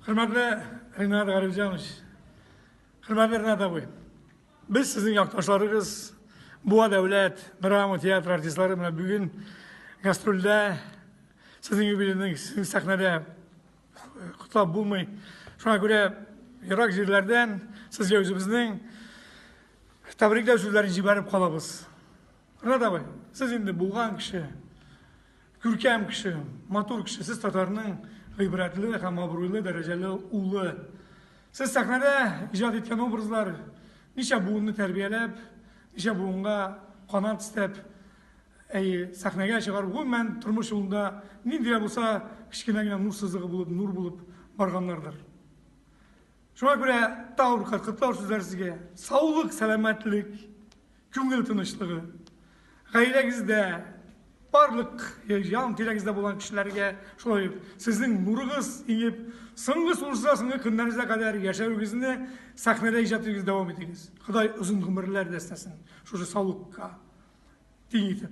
Хөрмәтле Ринат Гарифҗанович, хөрмәтле Ринат абый, без сезнең якташларыгыз, Буа дәүләт драма театр артистлары белән бүген гастрольдә сезнең юбилейның сезнең сәхнәдә котлап булмый. Шуңа күрә ерак җирләрдән сезгә үзебезнең тәбрикләү сүзләрен җибәреп калабыз. Ринат абый, сез инде булган кеше. Күркәм кеше, матур кеше, сез татарның гыйбрәтле һәм абруйлы дәрәҗәле улы. Сез сәхнәдә иҗат иткән образлар ничә буынны тәрбияләп, ничә буынга канат истәп, әйе, сәхнәгә чыгарып, гомумән тормыш юлында нинди дә булса кечкенә генә нур сызыгы булып, нур булып барганнардыр. Шуңа күрә тагын бер кат котлау сүзләре сезгә. Саулык, сәламәтлек, күңел тынычлыгы. Гаиләгездә, барлык ян тирәгездә булган кешеләргә шулай ук сезнең нурыгыз иңеп, соңгы сулышына соңгы көннәрегезгә кадәр яшәвегезне сәхнәдә иҗат итүегезне дәвам итегез. Ходай озын гомерләр дәстәсен шушы саулыкка тиң итеп.